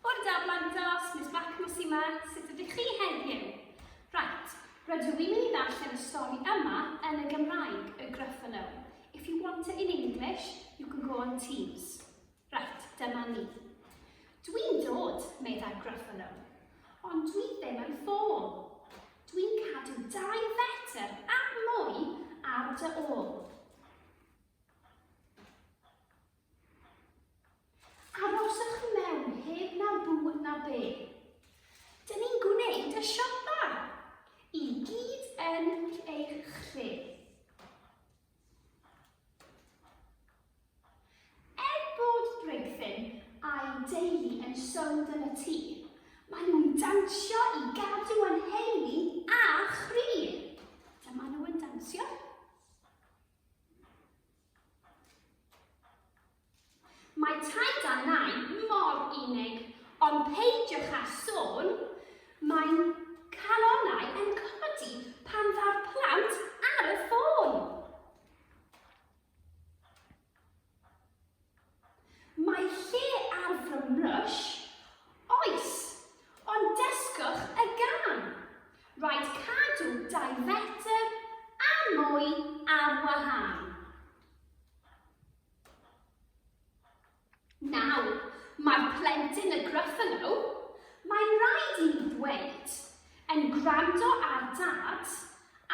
Bore da blant glas, Miss Blackmas yma, sut ydych chi heddiw? Right, rydw i'n mynd i ddarllen y stori yma yn y Gymraeg, y Gruffalo. If you want it in English, you can go on Teams. Right, dyma ni. Dwi'n dod, meddai Gruffalo, ond dwi ddim yn ffôl. Dwi'n cadw dau fetr a mwy ar dy ôl. Aroswch i mewn heb na bwyd na be. Dyn ni'n gwneud y siopa. I gyd yn eich lle. Er bod Brigfin a'i deulu yn sownd yn y tŷ, maen nhw'n dansio i gadw yn heini a chri. Dyma nhw yn dansio. Mae taid a nai mor unig, ond peidiwch â sôn, mae'n calonau yn codi pan ddaw'r plant ar y ffôn. Mae lle ar fy mrwsh? Oes, ond dysgwch y gân! Rhaid cadw dau fetr a mwy ar wahân. Nawr, mae'r plentyn y Gruffalo, mae'n rhaid i mi ddweud, yn gwrando ar Dad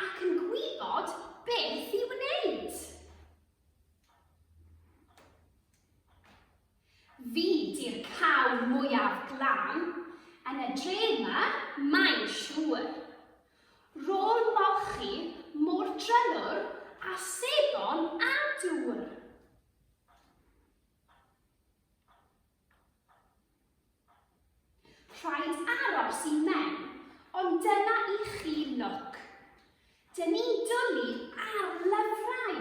ac yn gwybod beth i wneud. Fi di'r cawr mwyaf glân yn y dre yma, mae'n siŵr. Ro'n molchi mor drylwr a sebon a dŵr. Rhaid aros i mewn, ond dyna i chi noc. Dyn ni'n dwlu ar lyfrau,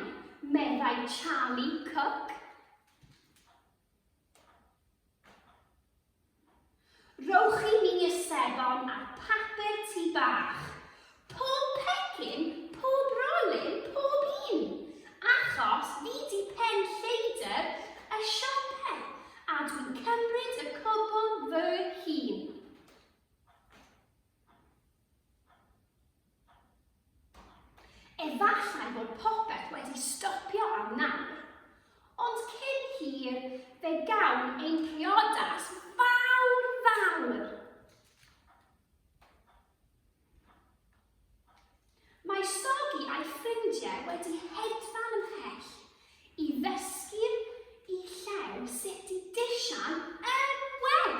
meddai Charlie Cook. Rhowch i mi ysebon a papur tŷ bach. Pob pecyn, pob rolyn, pob un! Achos fi 'di pen lleidr y siope a dwi'n cymryd y cwbl fy hun. Efallai bod popeth wedi stopio am nawr, ond cyn hir fe gawn ein priodas fawr fawr. Mae Sogi a'i ffrindiau wedi hedfan ymhell i ddysgu'r i llew sut i disian yn well.